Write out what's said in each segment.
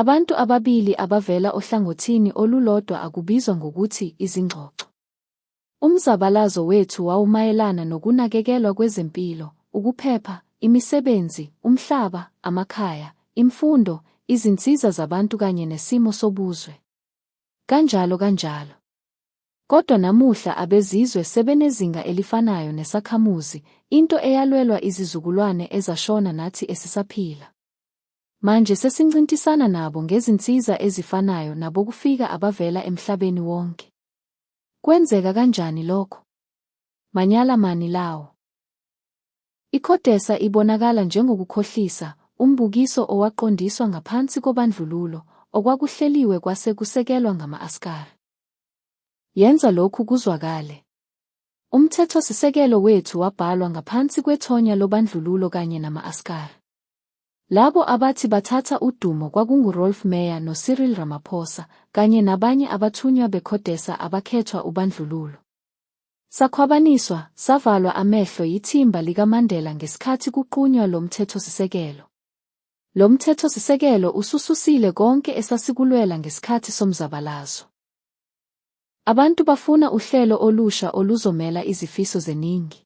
Abantu ababili abavela ohlangothini olulodwa akubizwa ngokuthi izingxoxo. Umzabalazo wethu wawumayelana nokunakekelwa kwezempilo, ukuphepha, imisebenzi, umhlaba, amakhaya, imfundo, izinsiza zabantu kanye nesimo sobuzwe. Kanjalo kanjalo. Kodwa namuhla abezizwe sebenezinga elifanayo nesakhamuzi, into eyalwelwa izizukulwane ezashona nathi esisaphila. Manje sesincintisana nabo ngezinsiza ezifanayo nabokufika abavela emhlabeni wonke. Kwenzeka kanjani lokho? Manyala mani lawo! Ikhodesa ibonakala njengokukhohlisa, umbukiso owaqondiswa ngaphansi kobandlululo, okwakuhleliwe kwase kusekelwa ngama-askari. Yenza lokhu kuzwakale. Umthethosisekelo wethu wabhalwa ngaphansi kwethonya lobandlululo kanye nama-askari. Labo abathi bathatha udumo kwakunguRolf Meyer noCyril Ramaphosa kanye nabanye abathunywa beCodesa abakhethwa ubandlululo. Sakhwabaniswa, savalwa amehlo yithimba likaMandela ngesikhathi kuqunywa lo mthethosisekelo. Lo mthethosisekelo usususile konke esasikulwela ngesikhathi somzabalazo. Abantu bafuna uhlelo olusha oluzomela izifiso zeningi.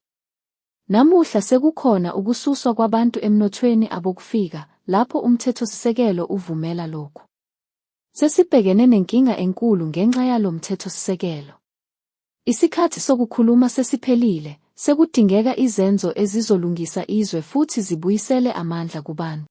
Namuhla sekukhona ukususwa kwabantu emnothweni abokufika lapho umthethosisekelo uvumela lokhu. Sesibhekene nenkinga enkulu ngenxa yalo mthethosisekelo. Isikhathi sokukhuluma sesiphelile, sekudingeka izenzo ezizolungisa izwe futhi zibuyisele amandla kubantu.